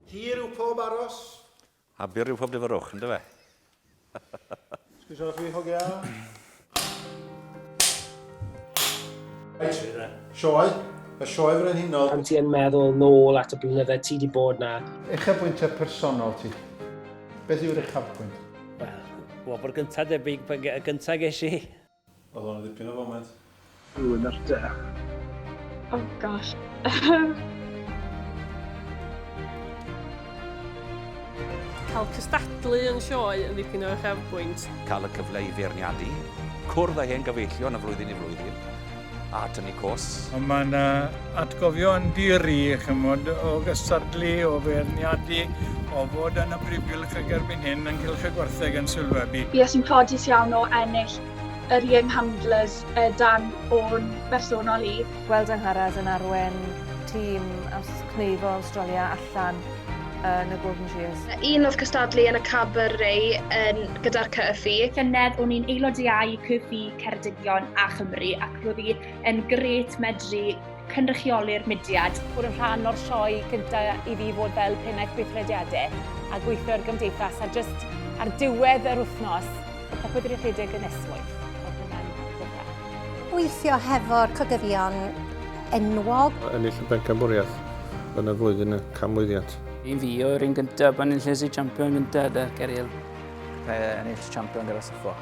Hir yw pob aros. A byr yw pob dyfyrwch, ynddo fe? Sgwysio chi, hogia. Sioe, y sioe frenhinol. Pan ti yn meddwl nôl at y blynydde ti di bod na. Uchafbwyntiau personol ti. Beth yw'r uchafbwynt? Wel, wobr gynta debyg, y gynta ges i. Oedd o'n ddipyn o foment. Rwy'n ar dy. Oh gosh. Cael cystadlu yn sioe yn ddipyn o uchafbwynt. Cael y cyfle i feirniadu, cwrdd â hen gyfeillion o flwyddyn i flwyddyn. a tynnu costs. Ond mae yna atgofion di-ri, chymod, o gystadlu, o feirniadu, o fod yn y briffylch ag erbyn hyn yn Cylch y Gwartheg yn sylwebu. Bues i'n ffodus iawn o ennill yr Young Handlers dan o'n bersonol i. Gweld Angharad yn arwain tîm ers Cneifo Awstralia allan yn y Golden Shears. Un oedd cystadlu yn y Cabaret yn gyda'r Cyfi. Llynedd o'n i'n aelod iau Cyfi. Ceredigion a Chymru ac roedd hi yn gret medru cynrychioli'r mudiad. Bod yn rhan o'r sioe gyntaf i fi fod fel pennaeth gweithrediadau a gweithio'r gymdeithas a jyst ar diwedd yr wythnos, popeth wedi rhedeg yn esmwyth. Gweithio hefo'r cogyddion enwog. Ennill y bencampwriaeth yn y flwyddyn y canmlwyddiant. I fi o'r un gyntaf, pan ennill y champion gyntaf gyda Ceriel. Ennill champion gyda Suffolk.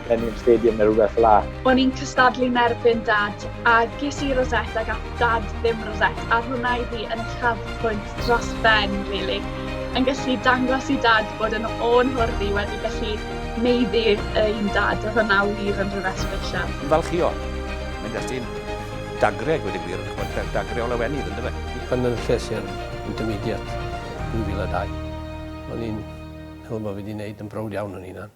Millennium Stadium neu rhywbeth fel 'a. O'n i'n cystadlu 'nerbyn Dad, a ges i rosette ac ath Dad ddim rosette, a hwnna i fi yn uchafbwynt dros ben rili. Yn gallu dangos i Dad bod yn ô'n hwrdd i wedi gallu meiddi ein Dad, oedd hwnna wir yn rhywbeth sbesial. Ymfalchïo. Mae'n destun dagre a gweud y gwir, ch'mod, da- dagre o lawenydd yndyfe? Yn Llannerches i'r Intermediate 2002. O'n i'n meddwl bo' fi 'di neud yn browd iawn o'n hunan.